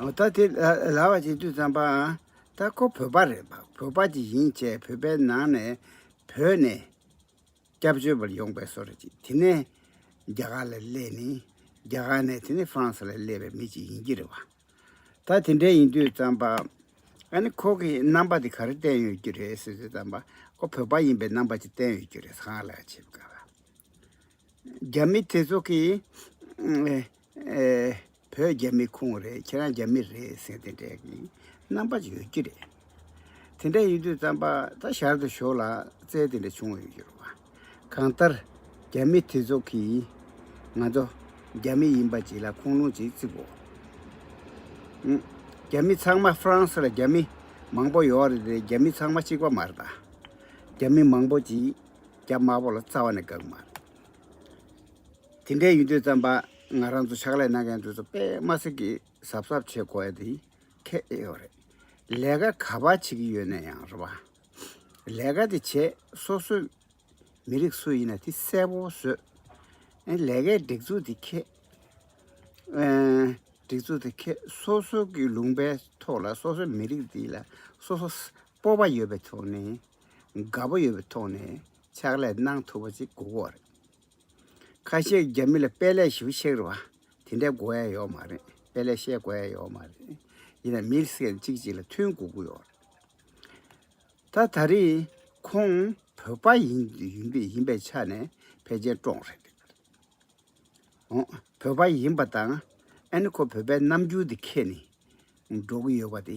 ད་དེ་ལ་བ་ཅིག་དུས་བརྩམས་པའང་ད་ཁོ་བོད་པ་རེད་པ་བོད་པ་ཅིག་ཡིན་བཅས་བོད་པའི་ནང་ནས་བོས་ནས་སྐྱབས་བཅོལ་བར་ཡོང་པའི་སོ་ར་ཅིག་དེ་ནས་རྒྱ་གར་ལ་སླེབས་ནས་རྒྱ་གར་ནས་དེ་ནས Frans ལ་སླེབས་པའི་མི་ཅིག་ཡིན་གྱི་རེད་བ། ད་དེ་འདྲ་ཡིན་དུས་བརྩམས་པ་ཨ་ནི་ཁོ་གི་རྣམ་པ་དེ་ག་རེ་བསྟན་ཡོད་རྒྱུ་རེད་ཟེར་དུས་བརྩམས་པ་ཁོ་བོད་པ་ཡིན་པའི་རྣམ་པ་ཅིག་བསྟན་ཡོད་རྒྱུ་རེད་གང་ལགས་བྱེད་དགོས་བ། རྒྱ་མི་དེ་ཚོ་གིས་བོད་རྒྱ་མི་ཁོངས་རེད་ཁྱེད་རང་རྒྱ་མི་རེད་ཟེར་དེ་འདྲས་ཀྱི་རྣམ་པ་ཡོད་ཀྱི་རེད། དེ་འདྲ་ཡིན་དུས་རྩམ་པ་ད་ཞར་དུ་ཞོག་ལ་རྩལ་དེ་འདྲ་བྱུང་བ་ཡོད་ཀྱི་རེད་བ། གང་ལྟར་རྒྱ་མི་དེ་ཚོ་གིས་ང་ཚོ་རྒྱ་མི་ཡིན་པ་གྱིས་ལ་ཁུངས་ལུང་གྱིས་བརྩི་དགོས། རྒྱ་མི་ཚང་མ་ཧྥ་རན་སི་ལ་རྒྱ་མི་མང་པོ་ཡོད་རེད་དེ་རྒྱ་མི་ཚང་མ་གཅིག་པ་མ་རེད་ད། རྒྱ་མི་མང་པོ་གྱིས་རྒྱ་དམར་པོ་ལ་རྩ་བ་ནས་དགག་མ་རེད། དེ་འདྲའི་ཡུན་ཐུང་ཙམ་པ་ང་རང་ཚོ་ཕྱག་ལས་གནང་མཁན་དེ་ཚོ་པདྨ་སི་ཀི་གཟབ་གཟབ་བྱེད་དགོས་ཡ་དེ་ཁེད་ཨེ་ཡོད་རེད། ལས་ཀ་ག་པ་བྱེད་ཀྱི་ཡོད་ན་ཡང་རེད་བ། ལས་ཀ་དེ་བྱེད་སོ་སོས་མི་རིགས་སུ་ཡིན་ན་དེ་གསལ་པོ་བཟོས། ཨེ་ལས་ཀའི་སྒྲིག་འཛུགས་དེ་ཁེད། སྒྲིག་འཛུགས་དེ་ཁེད་སོ་སོ་ཀྱི་ལུང་པའི་ཐོག་ལ་སོ་སོའི་མི་རིགས་དེ་ལ་སོ་སོ་སྤོབས་པ་ཡོད་པའི་ཐོག་ནས་དགའ་པོ་ཡོད་པའི་ཐོག་ནས་ཕྱག་ལས་གནང་ཐུབ་པ་ཅིག་དགོས་མཁོ་རེད། ཁ་ཤས་རྒྱ་མི་ལ་དཔེ་ལེགས་ཞིབ་ཤེས་རེད་བ། དེ་འདྲའི་གོ་ཡ་ཡོག་མ་རེད་དཔེ་ལེགས་ཤེས་གོ་ཡ་ཡོག་མ་རེད། ཡིན་ན་མི་སེར་གཅིག་གཅིག་ལ་མཐུན་གོ་གི་ཡོག་རེད། ད་ད་རེས་ཁོང་བོད་པ་ཡིན་ཡིན་པའི་ཆ་ནས་ཕལ་ཆེར་བཀྲོངས་རེད། ཨོ་བོད་པ་ཡིན་པ་དང་ཨ་ནི་ཁོ་བོད་པའི་རྣམ་འགྱུར་དེ་ཁས་ནི་འགྲོ་གི་ཡོད་པ་དེ་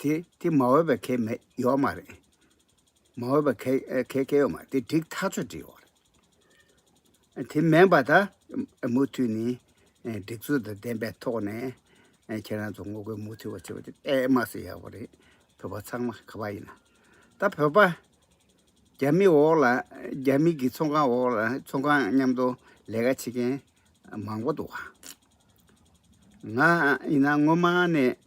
དེ་དེ་མ་འོས་པའི་གལ་མེད་ཡོད་མ་རེད། མ་འོས་པའི་གལ་གལ་གལ་ཡོད་མ་རེད་དེ་འགྲིག་ཐག་ཆོད་འགྲིག་ཡོད་རེད། དེ་མེད་པ་ད་མུ་མཐུད་ནས་སྒྲིག་འཛུགས་དང་ལྡན་པའི་ཐོག་ནས་ཁྱེད་རང་ཚོ་ངོ་རྒོལ་མུ་མཐུད་བ་བྱེད་པ་དེ་དཔེ་མ་ཟད་ཡག་པོ་རེད། བོད་པ་ཚང་མ་ག་པ་ཡིན་ན་ད་བོད་པ་རྒྱ་མི་འོག་ལ་རྒྱ་མི་གི་ཚོང་ཁང་འོག་ལ་ཚོང་ཁང་མཉམ་དུ་ལས་ཀ་བྱེད་མཁན་མང་པོ་འདུག་ང་ཡིན་ན་སྔོན་མ་ནས་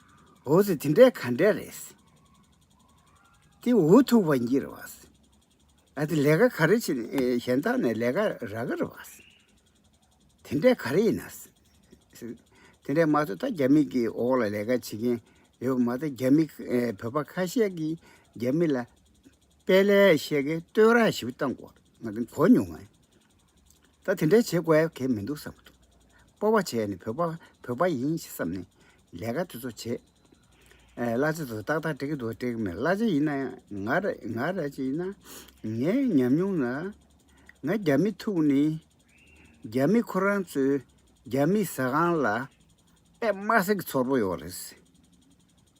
འོ་ཟེར་དེ་འདྲས་ག་འདྲས་རེད། དེ་འུ་ཐུག་པ་འགྱིར་བ། ཨ་དེ་ལས་ཀ་ག་རེ་བྱེད་གཞན་དག་ནས་ལས་ཀ་རག་གི་རེད་བ། དེ་འདྲས་ག་རེ་ཡིན། དེ་འདྲས་མ་ཚོ་ད་རྒྱ་མི་གི་འོག་ལ་ལས་ཀ་བྱེད་མཁན་ཡོད་པ་མ་ད་རྒྱ་མི་བོད་པ་ཁ་ཤས་ཀྱིས་རྒྱ་མི་ལ་པའི་ལས་བཤད་ཀྱི་སྟོད་ར་ཞིག་བཏང་གོ་ང་དང་གོ་མྱོང་ངས། ད་དེ་འདྲའི་བྱེད་དགོས་གལ་མི་འདུག་བསམ་གྱི་འདུག་སྤོ་བ་བྱས་ནས་བོད་པ་བོད་པ་ཡིན་ཞེས་བསམ་ནས་ལས་ཀ་དེ་ཚོ་བྱས། གླ་ཆ་དེ་ཚོ་ཏག་ཏག་འགྲིག་གི་འདུག་འགྲིག་མེད་གླ་ཆ་ཡིན་ན་ཡང་ང་ར་ཅིག་ཡིན་ན་ངའི་ཉམས་མྱོང་ལ་ང་རྒྱ་མི་ཐུག་ནས་རྒྱ་མི་ཁོ་རང་ཚོའི་རྒྱ་མི་ཟ་ཁང་ལ་པདྨ་གསེར་གྱི་ཚོར་བོ་ཡོང་བ་རེད།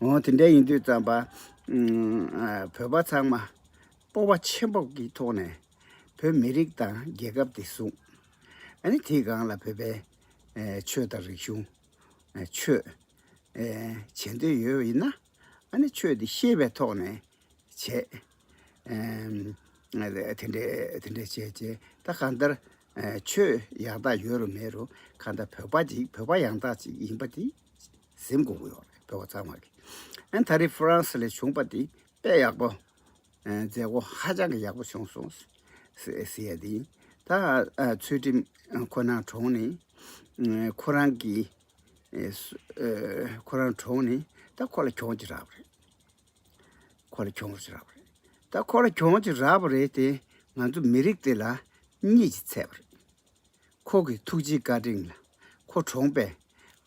འོ་དེ་འདྲ་ཡིན་དུས་ཙམ་པ། བོད་པ་ཚང་མ་སྤོབས་པ་ཆེན་པོ་ཀྱི་ཐོག་ནས་བོད་མི་རིགས་དང་རྒྱལ་ཁབ་དེ་བཟུང། ཨ་ནི་དེའི་སྒང་ལ་བོད་པའི་ཆོས་དང་རིག་གཞུང། ཆོས། བྱེད་འདོད་ཡོད་པ་ཡིན་ན། ཨ་ནི་ཆོས་དེ་ཤེས་པའི་ཐོག་ནས་བྱེད། དེ་འདྲ་དེ་འདྲ་བྱས་བྱས་ད་གང་ལྟར། ཆོས་ཡག་དག་ཡོད་རུང་མེད་རུང་གང་ལྟར་བོད་པ་ཅིག་བོད་པ་ཡང་དག་ཅིག་ཡིན་པ་དེ། གཟིམ་དགོང་གི་འོག་ཕེབས་པ་ཚང་མར་གྱི། ཨན་ད་རི་ཧྥུ་རན་སི་ལས་བྱུང་པ་འདི་དཔེ་ཡག་པོ། མཛད་སྒོ་ཧ་ཅང་གི་ཡག་པོ་བྱུང་སོང། ཟེར་ཡ་དེ་ཡིན། ད་ཚུལ་ཁྲིམས་ཁོ་ནང་གྲོང་ནི། ཁོ་རང་གི། ཁོ་རང་གྲོང་ནི་ད་ཁོ་ལ་གྱོང་གྱི་རག་པ་རེད། ཁོ་ལ་གྱོང་གྱི་རག་པ་རེད། ད་ཁོ་ལ་གྱོང་གྱི་རག་པ་རེད་དེ་ང་ཚོ་མི་རིགས་དེ་ལ་གཉིད་ཀྱི་ཚད་པ་རེད། ཁོ་གི་ཐུགས་རྗེའི་བཀའ་དྲིན་ལ་ཁོ་གྲོངས་པས།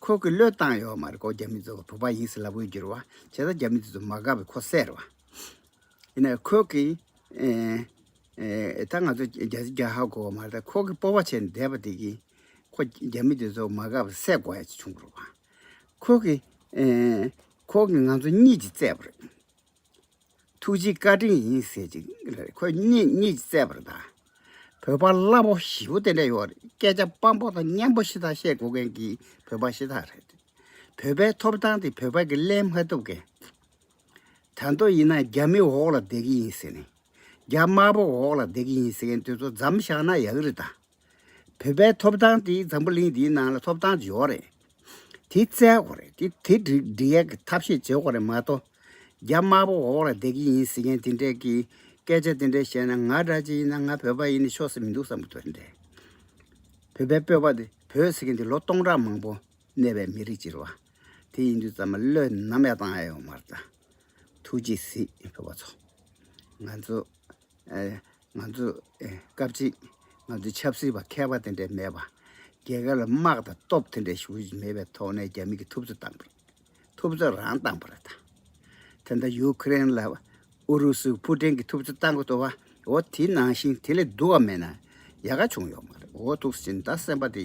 ཁོ་གི་བློས་བཏང་ཡོད་མ་རེད་ཀོ་རྒྱ་མི་ཚོ་བོད་པ་ཡིན་ཟེར་ལབ་དགོས་གྱུར་བ་བྱས་ཙང་རྒྱ་མི་དེ་ཚོ་མ་དགའ་བས་ཁོ་བསད་རོགས། ཡིན་ནའི་ཁོ་གི་ད་ང་ཚོ་རྒྱ་སེ་རྒྱ་ཧ་གོ་བ་མ་རེད་ཁོ་གི་སྤོ་བ་བྱས་ནས་བསྡད་པ་དེ་གིས་ཁོ་རྒྱ་མི་དེ་ཚོ་མ་དགའ་བས་བསད་དགོས་ཡ་བྱུང་རོགས། ཁོ་གི་ཁོ་གི་ང་ཚོ་གཉིད་ཀྱིས་བཙས་པ་རེད། ཐུགས་རྗེ་བཀའ་དྲིན་ཡིན་ཟེར་ཅིག། ཁོས་རྙེད་རྙེད་ཅིག་བརྩད་པར་གདའ། བོད་པ་གླ་པོ་བཞི་པོ་དེ་འདྲ་ཡོད་རེད་སྐད་ཆ་སྤམ་པོ་དང་སྙན་པོ་ཤི་ཐག་བཤད་དགོས་མཁན་གྱི་བོད་པ་ཤི་ཐག་རེད། བོད་པའི་ཐོབ་ཐང་དེ་བོད་པ་གི་གླེང་མ་ཐུབ་མཁན། དར་མདོ་ཡིན་ན་རྒྱ་མི་འོག་ལ་བསྡད་ཀྱི་ཡིན་ཟེར་ནས། རྒྱ་དམར་པོ་འོག་ལ་བསྡད་ཀྱི་ཡིན་ཟེར་མཁན་དེ་ཚོ་འཇམ་བཞག་ན་ཡག་རེད་དཱ། བོད་པའི་ཐོབ་ཐང་དེ་འཛམ་བུ་གླིང་འདིའི་ནང་ལ་ཐོབ་ཐང་བརྗེ་བོ་རེད། དེ་བཙལ་དགོས་རེད། དེ་དེ་འགྲིག་འགྲིག་ཡག་གི་ཐབས་ཤེས་བྱེད་དགོས་རེད་མ་གཏོགས། རྒྱ་དམར་པོ་འོག་ལ་བསྡད་ཀྱི་ཡིན་ཟེར་མཁན་དེ་འདྲས་ཀྱིས་སྐད་ཆ་དེ་འདྲས་བཤད་ན་ང་འདྲ་ཅིག་ཡིན་ན་ང་བོད་པ་ཡིན་ནི་ཆོག་ས་མི་འདུག་བསམ་གི་འདུག་དེ་འདྲས། བོད་པའི་སྤོས་པ་དེ་བོད་ཟེར་མཁན་དེ་ལོ་སྟོང་ཕྲག་མང་པོ་གནས་པའི་མི་རིགས་ཅིག་རེད་བ། དེ་ཡིན་དུས་ཙམ་མ་བློས་ནམ་ཡང་བཏང་ཡ་ཡོད་མ་རེད་ད། ཐུགས་རྗེ་གཟིགས་བོད་པ་ཚོ། ང་ཚོ། ང་ཚོ་སྐབས་གཅིག་ང་ཚོ་ཆབ་སྲིད་པ་མཁས་པ་དེ་འདྲ་མེད་པ། རྒྱལ་ཁབ་ལ་དམག་དང་སྟོབས་དེ་འདྲ་ཞུགས་ཀྱི་མེད་པའི་ཐོག་ནས་རྒྱ་མི་གི་ཐུབ་ཚོད་བཏང་པ། ཐུབ་ཚོད་རང་བཏང་པ་རེད་ད། དེ་འདྲ་ཡུ་ཁི་རེན་ལ་ཨུ་རུ་སུ་ཕུ་ཀྲིན་གི་ཐུབ་ཚོད་བཏང་གི་འདུག་བ། འོ་དེ་ནང་བཞིན་དེ་ལས་སྡུག་བ་མེད་ན་ཡག་ག་བྱུང་ཡོག་མ་རེད་འོ་ཐུགས་ཟིན་ད་སེམས་པ་དེ་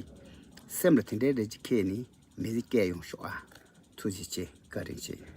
སེམས་ལ་དེ་འདྲ་རེད་ཅེས་ཁྱེད་ནི་མི་རིགས་སྐད་ཡོང་ཤོག་ཨ། ཐུགས་རྗེ་ཆེ་བཀའ་དྲིན་ཆེ།